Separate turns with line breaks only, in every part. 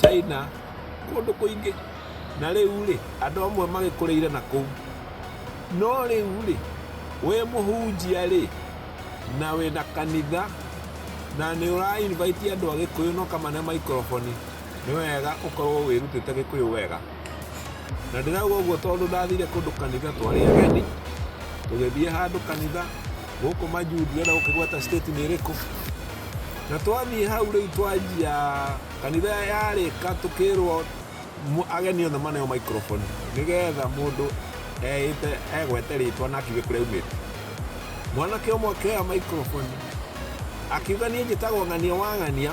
China, kũndũ kũingĩ. Na rĩu-rĩ, andũ amwe magĩkũrĩire na kũu. No rĩu-rĩ, wĩ mũhunjia-rĩ, na wĩ na kanitha, na nĩ ũra invite andũ a Gĩkũyũ na ũkamane maikroboni, nĩ wega ũkorwo wĩrutĩte Gĩkũyũ wega. na ndĩrauga ũguo tondũ ndathire kũndũ kanitha twarĩ ageni tũgĩthiĩ handũ kanitha gũkũ majuu ndirenda gũkĩgweta state nĩ ĩrĩkũ na twathiĩ hau rĩu twanjia kanitha yarĩka tũkĩrwo mu- ageni othe maneo microphone nĩgetha mũndũ eĩte egwete rĩtwa na akiuge kũrĩa aumĩte mwanake ũmwe akĩoya microphone akiuga niĩ njĩtagwo ng'ania wa ng'ania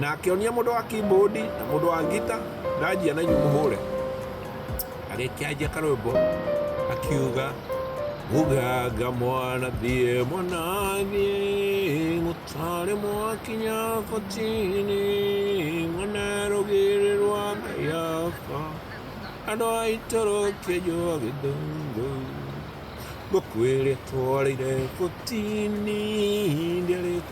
na akĩonia mũndũ wa keyboard na mũndũ wa ngita ndanjia na inyuĩ mũhũre agĩkĩanjia karwĩmbo akiuga muganga mwana thiĩ mwana thiĩ gũtarĩ mwakinya kotini mwana rũgĩrĩ rwa ngayaba andũ a itũrũ kĩnjũa gĩthũngũ ngũkwĩrĩtwarĩire kotini ndĩrĩtwo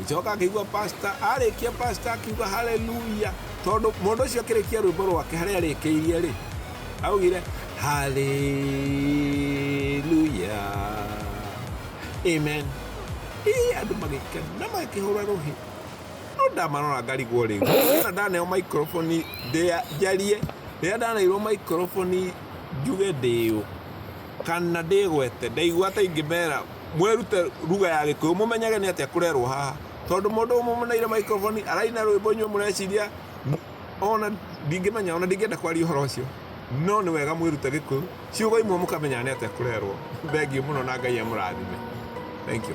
Ngĩcoka ngĩigua pastor arĩkia pastor akiuga haleluya tondũ mũndũ ũcio akĩrĩkia rwĩmbo rwake harĩa arĩkĩirie rĩ augire haleluya amen ii andũ magĩkena magĩkĩhũra rũhĩ no ndamarora ngarigwo rĩu rĩrĩa ndaneo microphone ndĩa- njarie rĩrĩa ndaneirwo microphone njuge ndĩũ kana ndĩgwete, ndaigua ta ingĩmera mwĩrute ruga ya Gĩkũyũ, mũmenyage nĩ atĩa kũrerwo haha, tondũ mũndũ ũmũmuneire microphone araina rwĩmbo inyuĩ mũreciria ona ndingĩmenya, ona ndingĩenda kwaria ũhoro ũcio, no nĩ wega mwĩrute Gĩkũyũ, ciugo imwe mũkamenyaga nĩ atĩa kũrerwo. Thengiũ mũno na Ngai amũrathime. Thank you.